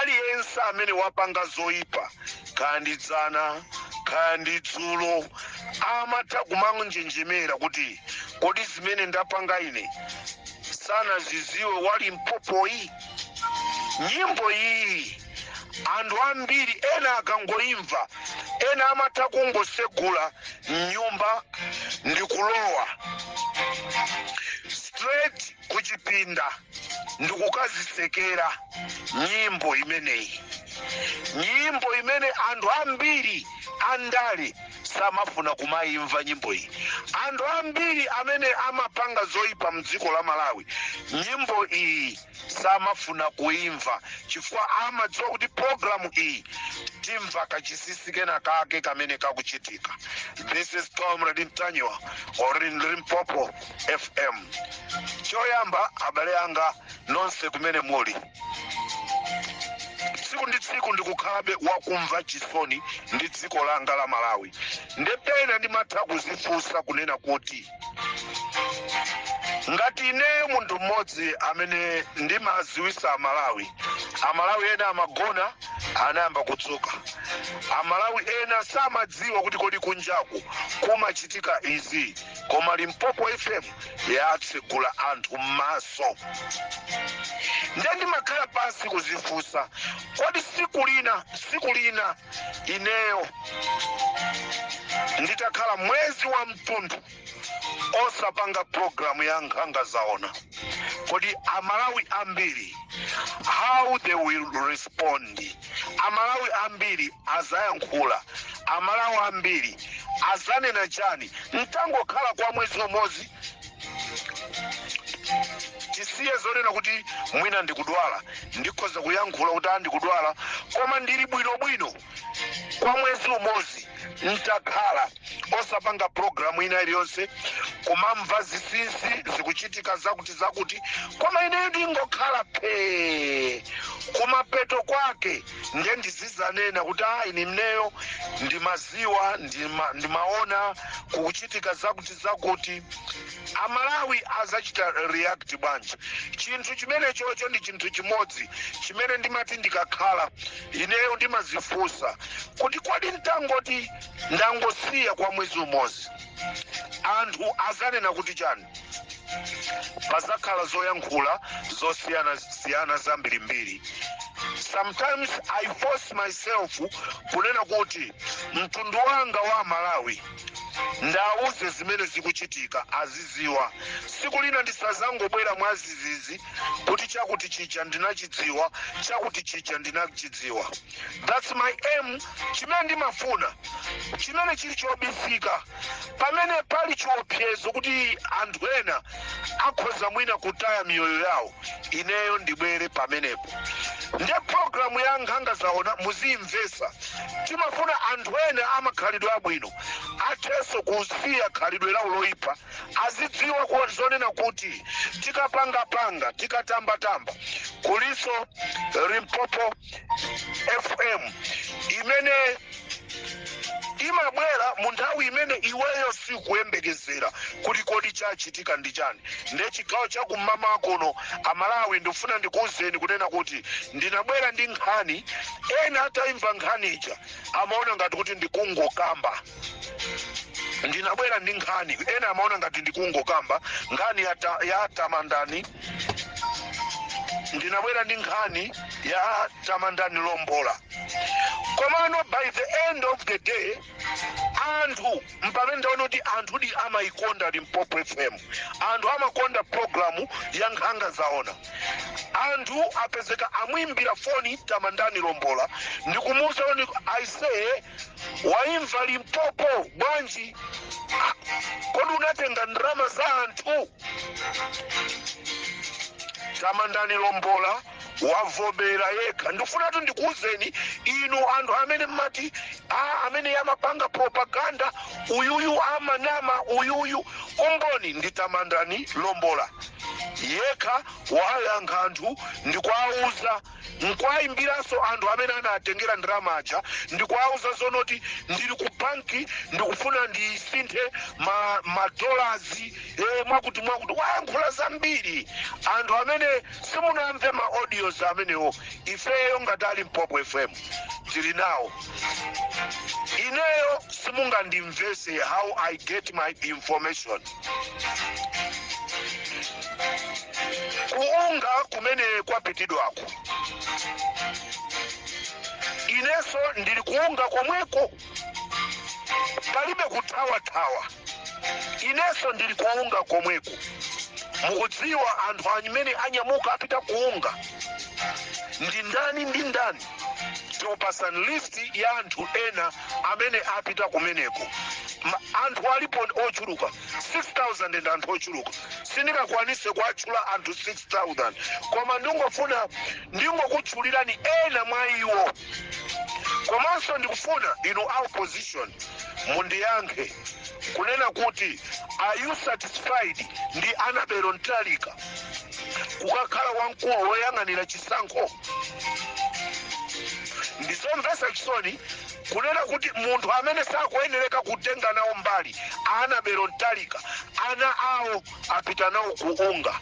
aliyense amene wapanga zoyipa kaya ndi dzana kaya ndi dzulo amatha kumanjenjemera kuti kodi zimene ndapanga ine sanaziziwe wa Limpopoyi nyimbo iyi anthu ambiri ena akangoimva ena amatha kungosegula mnyumba ndi kulowa straight kuchipinda ndikukazisekera nyimbo imeneyi nyimbo imene anthu ambiri andale samafuna kumayimva nyimbo iyi anthu ambiri amene amapanga zoyipa mdziko la malawi nyimbo iyi samafuna kuimva chifukwa amadziwa kuti programu iyi timva kachisisi kena kake kamene kakuchitika this is comrade Ntanyiwa on Limpopo fm choyamba abale anga nonse kumene muli tsiku ndi tsiku ndikukhalabe wakumva chisoni ndi dziko langa la malawi ndepena ndimatha kuzifunsa kunena kuti ngati ineyo munthu mmodzi amene ndimaziwisa amalawi amalawi ena amagona anayamba kudzuka amalawi ena samadziwa kuti kodi kunjaku kumachitika izi koma limpopo fm yatsegula anthu m'maso nde ndimakhala pansi kuzifunsa kodi siku lina siku lina ineyo nditakhala mwezi wathunthu osapanga programu ya nkhanga zaona kodi amalawi ambiri how they will respond amalawi ambiri azayankhula amalawi ambiri azanena chani ntangokhala kwa mwezi umodzi tisiye zonena kuti mwina ndikudwala ndikhoza kuyankhula kuti a ndikudwala koma ndili bwinobwino kwa mwezi umodzi ntakhala osapanga programu ina iliyonse kumamva zisinsi zikuchitika zakuti zakuti koma ineyo ndingokhala phee kumapeto kwake nde ndizizanena kuti a ine ineyo ndimaziwa ndimaona kukuchitika zakuti zakuti amalawi azachita react bwanji chinthu chimenechocho ndi chinthu chimodzi chimene ndimati ndikakhala ineyo ndimazifunsa kuti kodi ntangoti ndangosiya kwa mwezi umodzi anthu azanena kuti chani pazakhala zoyankhula zosiyanasiyana zambirimbiri sometimes i force myself kunena kuti mtundu wanga wa amalawi ndawuze zimene zikuchitika aziziwa siku lina ndisazangobwera mwazizizi kuti chakuti chija ndinachidziwa chakuti chija ndinachidziwa thats my aim chimene ndimafuna chimene chili chobisika pamene pali chiopsezo kuti anthu ena akhoza mwina kutaya miyoyo yawo ineyo ndibwere pamenepo nde programu ya nkhanga zaona muziyimvesa timafuna anthu ena amakhalidwe abwino athenso kusiya khalidwe lawo loyipa azidziwa ku- zonena kuti tikapangapanga tikatambatamba kulinso limpopo fm imene imabwera mu nthawi imene iweyo sikuyembekezera kuti kodi chachitika ndi chani nde chigawo cha kum'mawa kuno amalawi ndikufuna ndikuwuzeni kunena kuti ndinabwera ndi nkhani ena atayimva nkhani ija amaona ngati kuti ndikungokamba ndinabwera ndi nkhani ena amaona ngati ndikungokamba nkhani ya, ta, ya tamandani ndinabwera ndi nkhani ya tamandani lombola komano by the end of the day anthu mpamene ndaona kuti anthudi amayikonda limpopo fm anthu amakonda programu ya nkhanga zaona anthu apezeka amwimbira foni tamandani lombola ndikumuuza oni aise waimva limpopo bwanji Ah, kodi unatenga ndalama za anthu tamandani lombola wavomera yekha ndifunatu ndikuwuzeni inu anthu amene mmati a amene amapanga propaganda uyuyu amanama uyuyu umboni ndi tamandani lombola yekha wayankha anthu ndikuwawuza nkuwaimbiranso anthu amene anatengera ndalama aja ndikuwauza zonoti ndili ku banki ndikufuna ndisinthe ma, ma dollars eh, mwakuti mwakuti wayankhula zambiri anthu amene simunamve ma audios amenewo ifeyo ngati a limpopo fm tili nawo ineyo simungandimvese how i get my information ku unga kumene kwapitidwako inenso ndili ku unga komweko palibe kuthawathawa inenso ndili ku unga komweko mukudziwa anthu amene anyamuka apita ku unga ndi ndani ndi ndani tikupasani listi ya anthu ena amene apita kumeneko Ma- anthu alipo ochuluka 6000 ndi anthu ochuluka sindingakwanise kuatchula anthu 6000 koma ndingofuna ndingokutchulirani ena mwa iwo komanso ndikufuna inu a opposition mundiyankhe kunena kuti are you satisfied ndi Annabel Mtalika kukakhala wamkulu woyang'anira chisankho ndizomvetsa chisoni kunena kuti munthu amene sakuyenereka kutenga nawo mbali a Annabel Mtalika ana awo apita nawo ku UNGA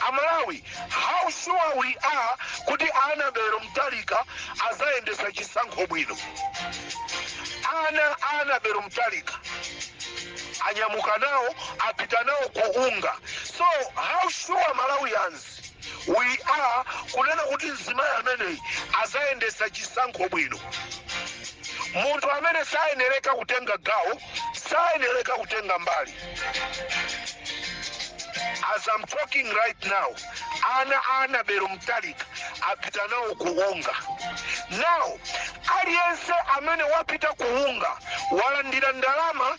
aMalawi how sure we are kuti Annabel Mtalika azayendesa chisankho bwino ana a Annabel Mtalika anyamuka nawo apita nawo ku UNGA So how sure Malawians we are kunena kuti mzimayi ameneyi azayendesa chisankho bwino. Munthu amene sayenereka kutenga gawo, sayenereka kutenga mbali. As I'm talking right now, ana a Annabel Mtalika apita nawo ku UNGA. Now, aliyense amene wapita ku UNGA walandira ndalama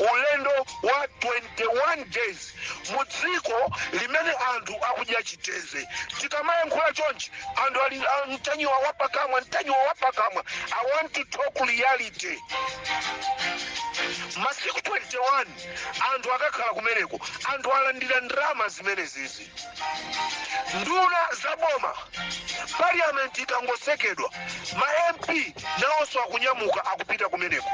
Ulendo wa 21 days mu dziko limene anthu akudya chiteze. Tikamayankhula chonchi anthu ali ah, Ntanyiwa wapakamwa, Ntanyiwa wapakamwa. I want to talk reality. Masiku 21 anthu akakhala kumeneko, anthu alandira ndalama zimenezizi. nduna za boma parliament ikangosekedwa ma mp nawonso akunyamuka akupita kumeneko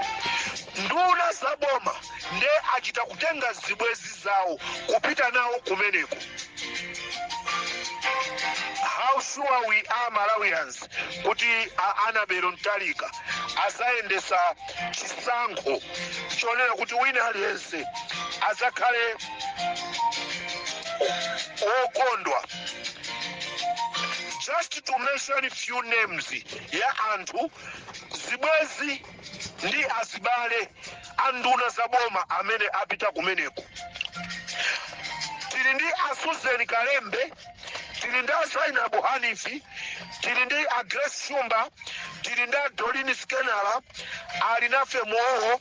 nduna za boma nde achita kutenga zibwezi zawo kupita nawo kumeneko how sure we are malawians kuti a Annabel Mtalika azayendesa chisankho chonena kuti wina aliyense azakhale okondwa just to mention few names ya anthu zibwezi ndi azibale anduna za boma amene apita kumeneko tili ndi a Susan Kalembe tili ndi a Zainabu Hanifi tili ndi a Grace Shumba tili ndi a Doreen Skenala Alinafe Muwowo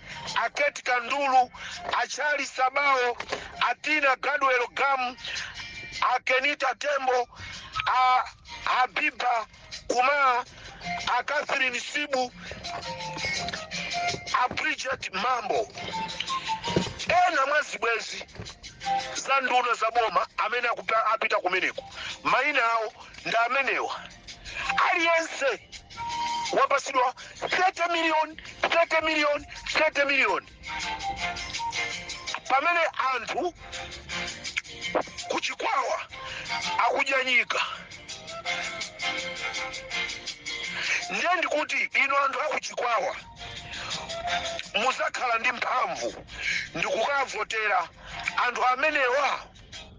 a Kate Kandulu, a Charlie Sabao, a Tina Gadwell Gam, a Kenita Tembo, a Habiba Kuma, a Catherine Sibu, a Bridget Mambo. Ena mwa zibwezi za nduna za boma amene akupa- apita kumeneko maina awo ndi amenewa aliyense wapatsidwa 30 million 30 million 30 million pamene anthu kuchikwawa akudya nyika ndiye ndikuti inu anthu akuchikwawa muzakhala ndi mphamvu ndikukavotera anthu amenewa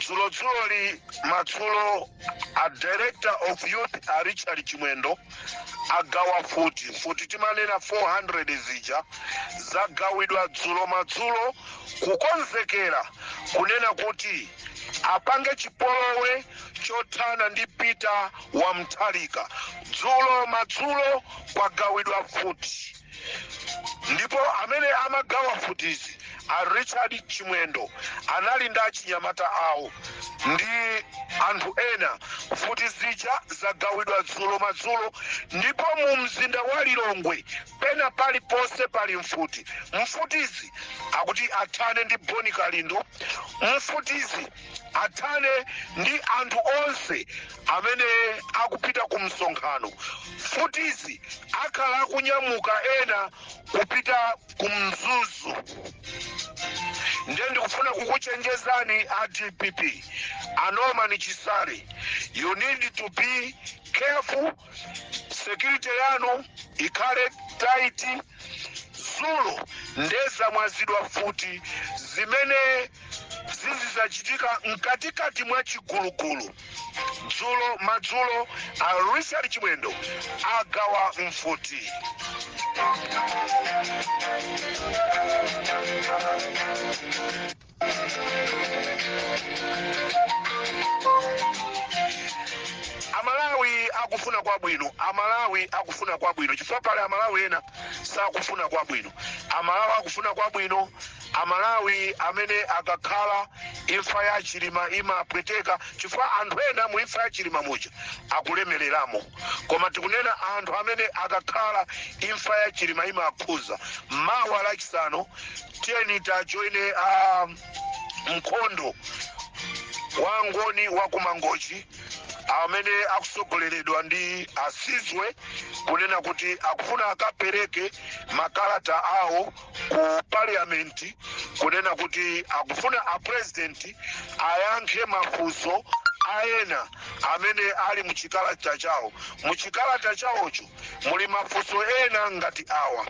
dzulodzuloli madzulo a director of youth a richard chimwendo agawa mfuti mfuti timanena 400 zija zagawidwa dzulo madzulo kukonzekera kunena kuti apange chipolowe chothana ndi peter wa mutharika dzulo madzulo kwagawidwa mfuti ndipo amene amagawa mfutizi a richard chimwendo anali ndi achinyamata awo ndi anthu ena mfuti zija zagawidwa dzulo madzulo ndipo mu mzinda wa lilongwe pena paliponse pali mfuti mfutizi akuti athane ndi boni kalindo mfutizi athane ndi anthu onse amene akupita ku msonkhano mfutizi akhala akunyamuka ena kupita ku mzuzu ndiye ndikufuna kukuchenjezani a dpp a norman chisale you need to be careful security yanu ikhale tight dzulo nde zamwazidwa mfuti zimene zizidzachitika mkatikati mwa chigulugulu dzulo madzulo a richard chimwendo agawa mfuti amalawi akufuna kwabwino amalawi akufuna kwabwino chifukwa pali amalawi ena sakufuna kwabwino amalawi akufuna kwabwino amalawi amene akakhala imfa ya chilima imapweteka chifukwa anthu ena mu imfa ya chilima muja akulemereramo koma tikunena anthu amene akakhala imfa ya chilima imakhuza mawa lachisanu tiyeni tajoineni a mkhondo wa ngoni wa kumangochi amene akutsogoleredwa ndi asizwe kunena kuti akufuna akapereke makalata awo ku parliament kunena kuti akufuna apurezidenti ayankhe mafunso ena amene ali muchikalata chawo muchikalata chawocho muli mafunso ena ngati awa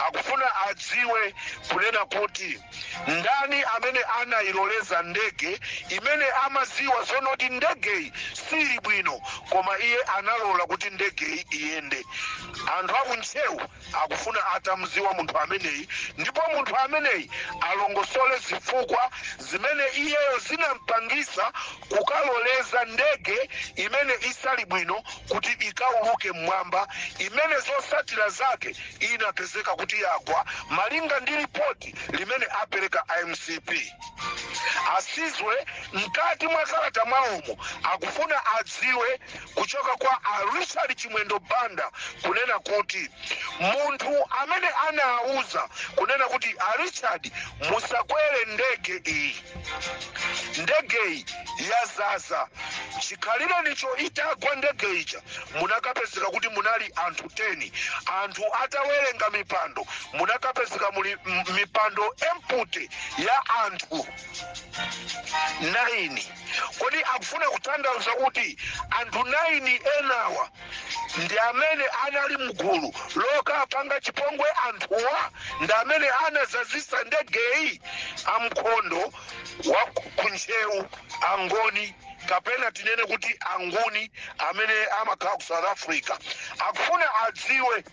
akufuna adziwe kunena kuti ndani amene anayiloleza ndege imene amadziwa zoona kuti ndegeyi sili bwino koma iye analola kuti ndegeyi iyende anthu akuntcheu akufuna atamdziwa munthu ameneyi ndipo munthu ameneyi alongosole zifukwa zimene iyeyo zinampangisa kukaloleza ndege imene isali bwino kuti ikauluke m'mwamba, imene zotsatira zake inapezeka kuti yagwa, malinga ndi lipoti limene apereka a mcp. A Sizwe mkati mwa kalata mwawomu akufuna adziwe kuchoka kwa a Richard Chimwendo Banda kunena kuti munthu amene anawauza kunena kuti a Richard musakwere ndege iyi, ndegeyi yadzadza chikhalirenicho itagwa ndege ija munakapezeka kuti munali anthu 10 anthu atawerenga mipando munakapezeka muli mipando empty ya anthu 9 kodi akufuna kutanthauza kuti anthu 9 enawa ndi amene anali mgulu lokapanga chipongwe anthuwa ndi amene anadzadzitsa ndegeyi amkondo wa kuntcheu angoni kapena tinene kuti anguni amene amakhala ku south africa akufuna adziwe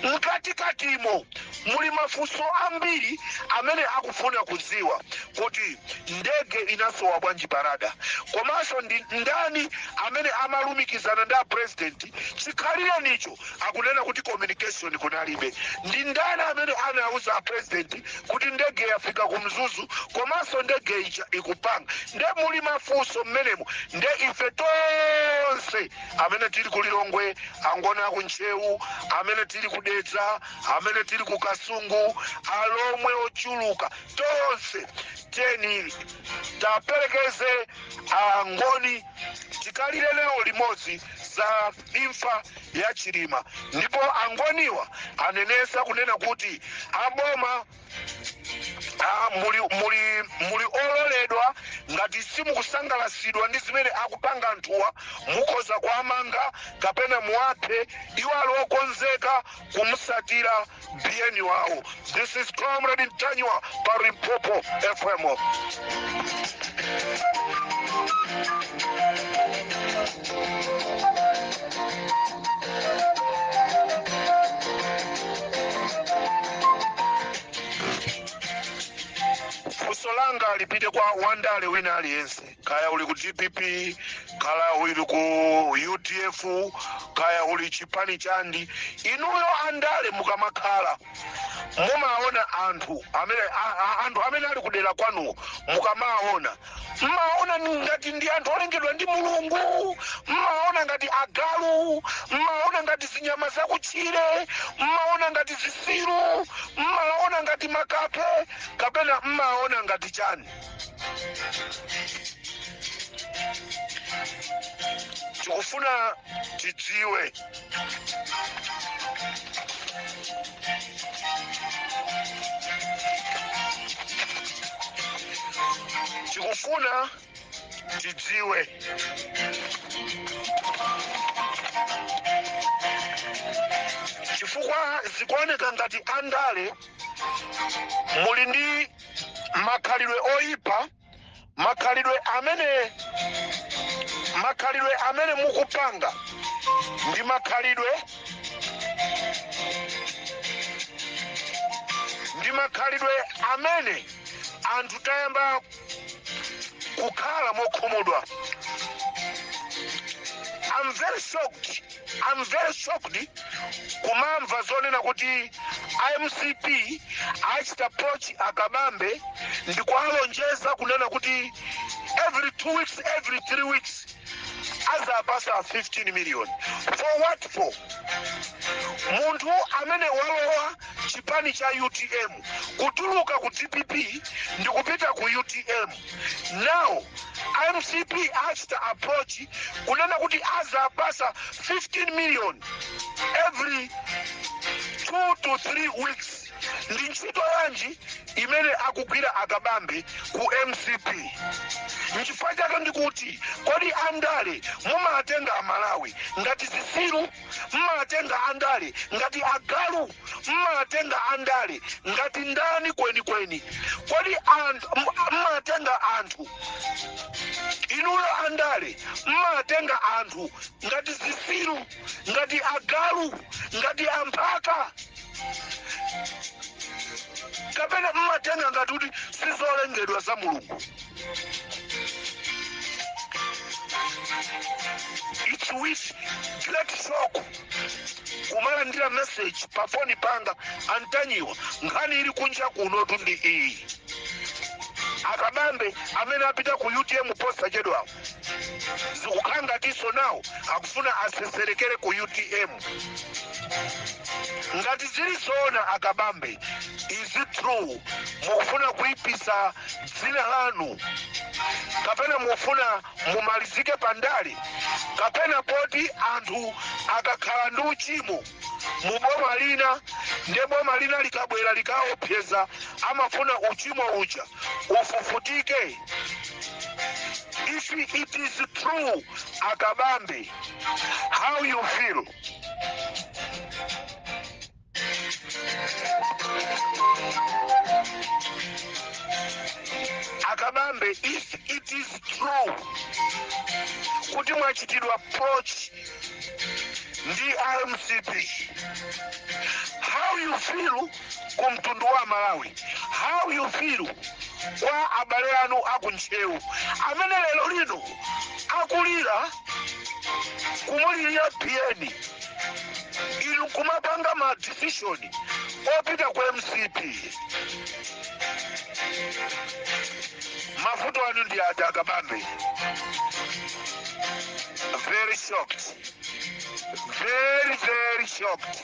mkatikatimo muli mafunso ambiri amene akufuna kudziwa kuti ndege inasowa bwanji pa radar komanso ndi ndani amene amalumikizana ndi apresidenti chikhalirenicho akunena kuti communication kunalibe ndi ndani amene anauza apresidenti kuti ndege yafika ku mzuzu komanso ndege ija ikupanga nde muli mafunso mmenemo nde ife tonse amene tili ku lilongwe angoni aku ntcheu amene tili ku dedza amene tili ku kasungu alomwe ochuluka tonse tiyeni taperekeze angoni tikalire nawo limodzi za imfa ya chilima ndipo angoniwa anenetsa kunena kuti aboma muli ololedwa ngati simukusangalatsidwa ndi zimene akupanga anthuwa mukhoza kuwamanga kapena muwaphe iwo ali okonzeka kumsatira biyeni wawo this is comrade ntanyiwa pa limpopo fm funso langa lipite kwa wandale wina aliyense kaya uli ku dpp kaya uli ku udf kaya uli chipani chanji inuyo andale mukamakhala mumaona anthu amene a- a- anthu amene ali kudera kwanu mukamaona mmawaona ngati ndi anthu olengedwa ndi mulungu mmawaona ngati agalu mmawaona ngati zinyama zakutchire mmawaona ngati zisiru mmawaona ngati makape kapena mmawaona ngati chani tikufuna tidziwe tikufuna tidziwe chifukwa zikuoneka ngati andale muli ndi makhalidwe oyipa makhalidwe amene mukupanga ndi makhalidwe amene anthu tayamba kukhala mokhumudwa I'm very shocked I'm very shocked kumamva zonena kuti a mcp achita approach a kabambe ndikuwalonjeza kunena kuti every two weeks every three weeks azawapasa 15 million for what for munthu amene walowa chipani cha utm kutuluka ku dpp ndikupita ku utm now a mcp achita approach kunena kuti azawapasa 15 million every 2 to 3 weeks ndi ntchito yanji imene akugwira a kabambe ku mcp nchifukwa chake ndikuti kodi andale mumawatenga amalawi ngati zisiru mmawatenga andale ngati agalu mmawatenga andale ngati ndani kwenikweni kodi mmawatenga anthu inuyo andale mmawatenga anthu ngati zisiru ngati agalu ngati amphaka kapena mmatenga ngati kuti sizolengedwa za mulungu it's with great shock kumalandira message pa foni panga antanyiwa nkhani ili kunja kunotu ndi iyi akabambe amene apita ku utm posachedwa zikukhala ngatinso nawo akufuna aseserekere ku utm ngati zili zoona akabambe is it true mukufuna kuipisa dzina lanu kapena mufuna mumalizike pa ndale kapena poti anthu akakhala ndi uchimo mu boma lina nde boma lina likabwera likawaopseza amafuna uchimo uja ufufutike if it is true akabambe how you feel akabambe if it is true kuti mwachitidwa approach ndi a mcp how you feel ku mtundu wa malawi how you feel kwa abale anu aku ntcheu amene lero lino akulira kumulira bn inu kumapanga ma decision opita ku mcp mavuto anu ndi ati akabambe very shocked very very shocked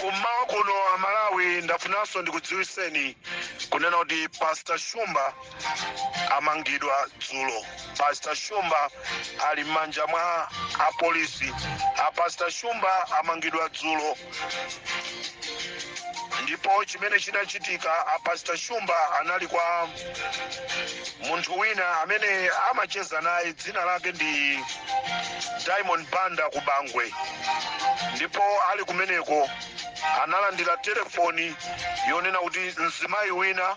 kummawa kuno amalawi ndafunanso ndikudziwiseni kunena kuti pastor shumba amangidwa dzulo pastor shumba ali m'manja mwa apolisi a pastor shumba amangidwa dzulo ndipo chimene chinachitika a pastor shumba anali kwa munthu wina amene amacheza naye dzina lake ndi diamond banda ku bangwe ndipo ali kumeneko analandira telefoni yonena kuti mzimayi wina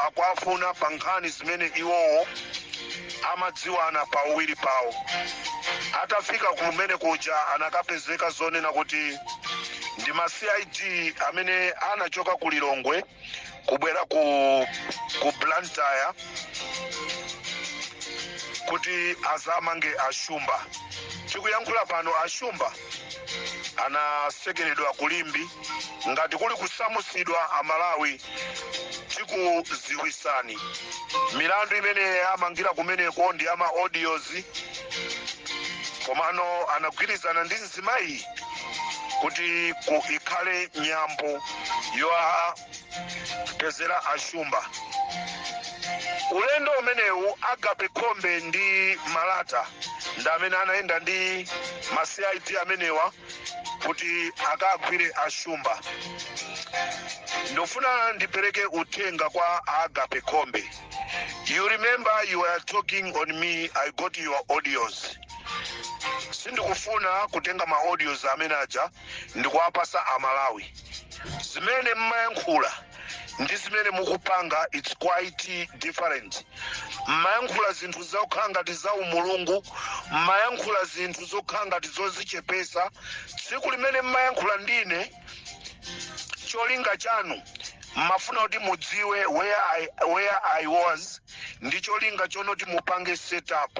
akuwafuna pa nkhani zimene iwowo amadziwana pauwiri pawo atafika kumenekuja anakapezeka zonena kuti ndi ma cid amene anachoka ku lilongwe kubwera ku blantyre kuti azamange ashumba tikuyankhula pano ashumba anasekeredwa kulimbi ngati kuli kusamusidwa amalawi tikuziwisani milandu imene amangira kumeneko ndi ama audios komano anagwirizana ndi mzimayi kuti ikhale nyambo yoa pezera ashumba ulendo umenewu agape khombe ndi malata ndi amene anayenda ndi ma cid amenewa kuti akagwire ashumba ndofuna ndipereke uthenga kwa agape khombe you remember you were talking on me i got your audios sindikufuna kutenga ma audios amene aja ndikuwapasa amalawi zimene mmayankhula ndi zimene mukupanga its quite different mmayankhula zinthu zokhala ngati za umulungu mmayankhula zinthu zokhala ngati zozichepesa tsiku limene mmayankhula ndine cholinga chanu mmafuna kuti mudziwe where i was ndi cholinga chonoti mupange setup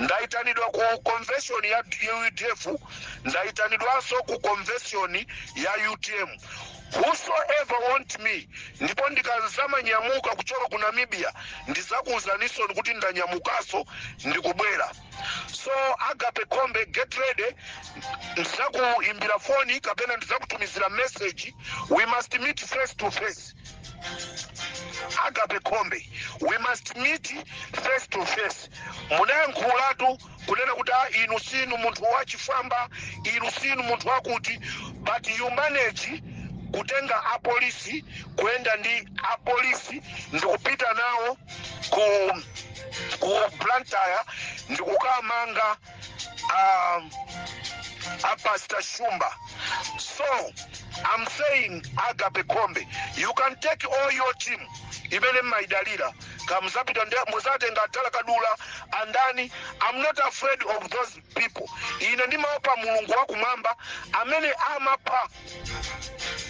ndaitanidwa ku convention ya udf ndaitanidwanso ku convention ya utm whosoever want me ndipo ndikazamanyamuka kuchoka ku namibia ndizakuuzaninso kuti ndanyamukanso ndikubwera so agape khombe get ready ndizakuimbira foni kapena ndizakutumizira message we must meet face to face agape khombe we must meet face to face munayankhulatu kunena kuti "Ah, inu sinu munthu wachifwamba inu sinu munthu wakuti but you manage kutenga apolisi kuyenda ndi apolisi ndikupita nawo ku blantyre ndikukamanga a Pastor Shumba. So I'm saying Agape Khombe, you can take all your team imene mmaidalira kamuzapita muzatenga a thalakadula andani I'm not afraid of those people ine ndimaopa mulungu wakumwamba amene amapha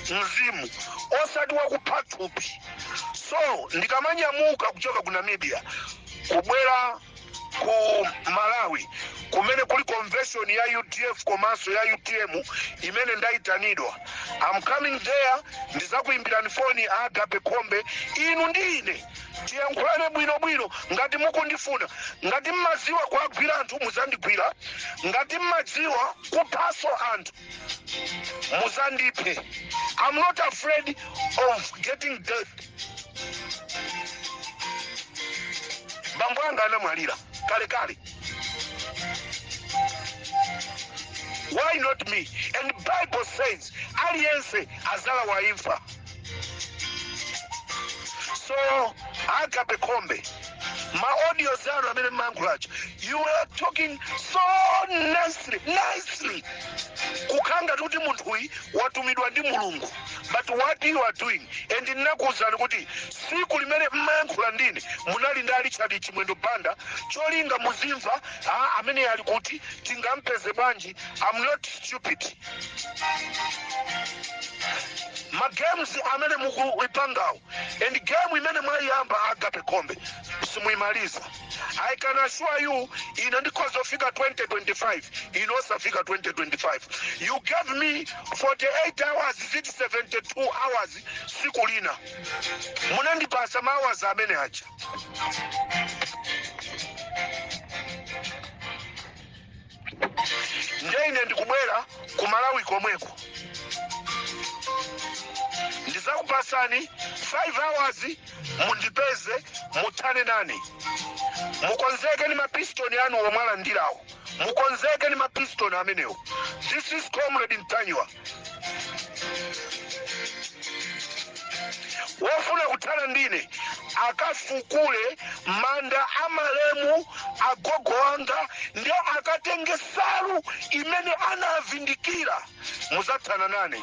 mzimu osati wakupha thupi so ndikamanyamuka kuchoka ku namibia kubwera ku malawi kumene kuli convention ya udf komanso ya utm imene ndayitanidwa I'm coming there ndizakuyimbirani foni a agape khombe inu ndi ine tiyankhulane bwinobwino ngati mukundifuna ngati mmadziwa kuwagwira anthu muzandigwira ngati mmadziwa kuphaso anthu muzandiphe i'm not afraid of getting death bambo anga anamwalira kale kale why not me and bible says aliyense azalawa imfa so agape khombe ma audios anu amene mmayankhula aja you are talking so nicely nicely kukhala ngati kuti munthuyi watumidwa ndi mulungu but what you are doing and ndinakuwuzani kuti siku limene mmayankhula ndine munali ndi a richard chimwendo banda cholinga muzimva amene ali kuti tingampeze bwanji I'm not stupid. Ma games amene mukuipangawo and game imene mwayiyamba agape khombe simuimaliza. I can assure you ine ndikhoza kufika 2025 inu osafika 2025. You gave me 48 hours is it 72 hours siku lina munandipasa ma hours amene aja. ndiye ine ndikubwera ku malawi komweko ndizakupasani 5 hours mundipeze muthane nane mukonzeke ni mapistoni anu omwe alandirawo mukonzeke ni mapistoni amenewo this is comrade ntanyiwa wofuna kuthana ndine akafukule manda a malemu agogo wanga nde akatenge nsalu imene anavindikira muzathana nane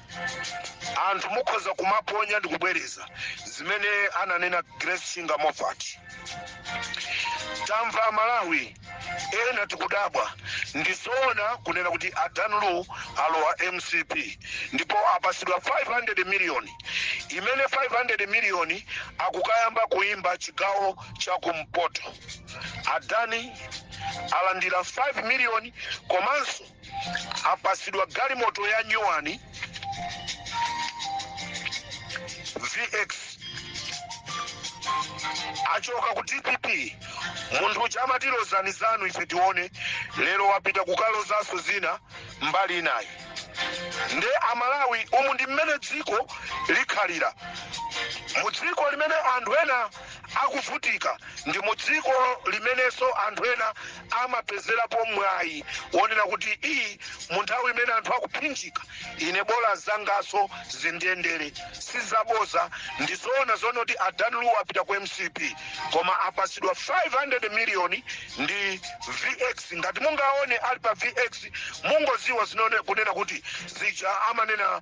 anthu mukhoza kumaponya ndi kubwereza zimene ananena grace chinga moffat tamva amalawi ena tikudabwa ndizoona kunena kuti a dan lu alowa mcp ndipo apasidwa 500 miliyoni imene 500 miliyoni akukayamba kuimba chigawo cha kumpoto a dan alandira 5 miliyoni komanso apasidwa galimoto ya nyuwani vx achoka ku dpp munthu uja amati lozani zanu ife tione lero wapita kukalozanso zina mbali inayi nde amalawi umu ndi mmene dziko likhalira mu dziko limene anthu ena akuvutika ndi mu dziko limenenso anthu ena amapezerapo mwayi wonena kuti iyi mu nthawi imene anthu akuphinjika ine bola zangaso zindiyendere sizaboza ndizoona zonena kuti a dan lu apita ku mcp koma apasidwa 500 miliyoni ndi vx ngati mungaone ali pa vx mungoziwa zoona kunena kuti zija amanena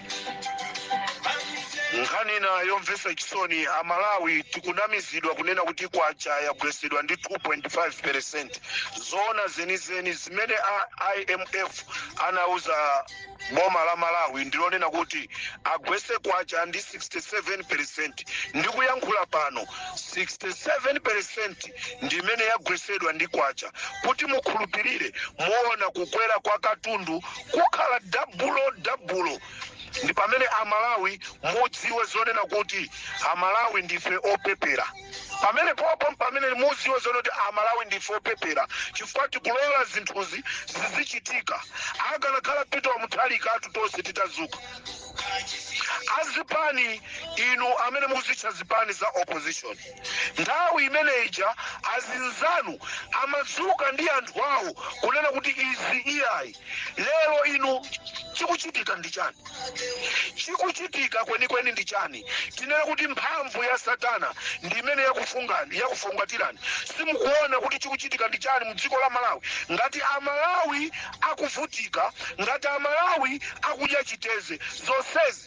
nkhani ina yomvetsa chisoni amalawi tikunamizidwa kunena kuti kwacha yagwetsedwa ndi 2.5 percent zoona zenizeni zimene a imf anauza boma la malawi ndi zonena kuti agwetse kwacha ndi 67 percent ndikuyankhula pano 67 percent ndi imene yagwetsedwa ndi kwacha kuti mukhulupirire muona kukwera kwa katundu kukhala dabulo dabulo ndi pamene amalawi mudziwe zonena kuti amalawi ndife opepera pamenepo mpamene mudziwe zonena kuti amalawi ndife opepera chifukwa tikulola zinthuzi zizichitika akanakhala pita wa muthalika atu tonse titazuka azipani inu amene muzitcha zipani za opposition Nthawi imene ija azinzanu amadzuka ndi anthu awo kunena kuti izi iyayi. Lero inu chikuchitika ndi chani? Chikuchitika kwenikweni ndi chani? Tinene kuti mphamvu ya Satana ndi imene yakufungatirani. Simukuona kuti chikuchitika ndi chani mu dziko la Malawi? Ngati a Malawi akuvutika, ngati a Malawi akudya chiteze, zonsezi.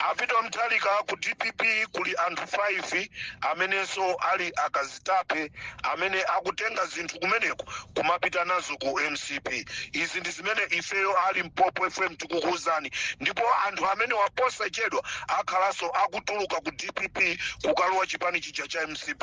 A Pita Mutharika ku dpp kuli anthu 5 amenenso ali akazitape amene akutenga zinthu kumeneko kumapita nazo ku mcp izi ndi zimene ifeyo a Limpopo FM tikukuwuzani ndipo anthu amenewa posachedwa akhalanso akutuluka ku dpp kukalowa chipani chija cha mcp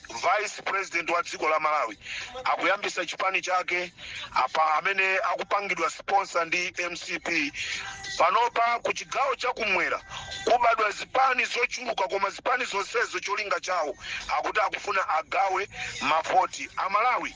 vice president wa dziko la malawi akuyambisa chipani chake apa amene akupangidwa sponsor ndi mcp panopa ku chigawo chakumwera kubadwa zipani zochuluka koma zipani zonsezo cholinga chawo akuti akufuna agawe mavoti amalawi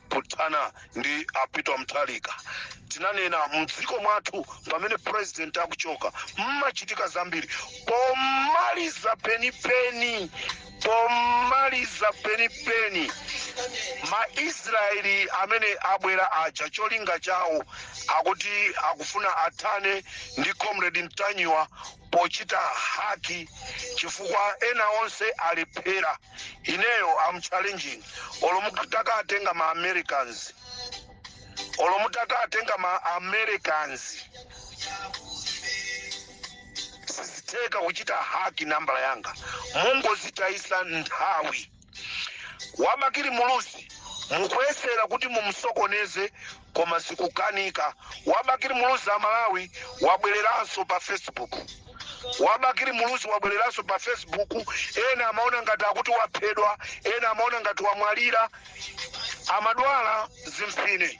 pothana ndi a pita mutharika tinanena mdziko mwathu pamene president akuchoka mmachitika zambiri pomaliza penipeni pomaliza penipeni maisraeli amene abwera aja cholinga chawo akuti akufuna athane ndi comrade ntanyiwa pochita haki chifukwa ena onse alephera ineyo am challenging olo mutakatenga ma americans olo mutakatenga ma americans sizitheka kuchita haki nambala yanga mungozitayisa nthawi wabakili muluzi mukuyesera kuti mumsokoneze koma zikukanika wabakili muluzi amalawi wabwereranso pa facebook wabakili muluzi wabwereranso pa facebook ena amaona ngati akuti waphedwa ena amaona ngati wamwalira amadwala zimfine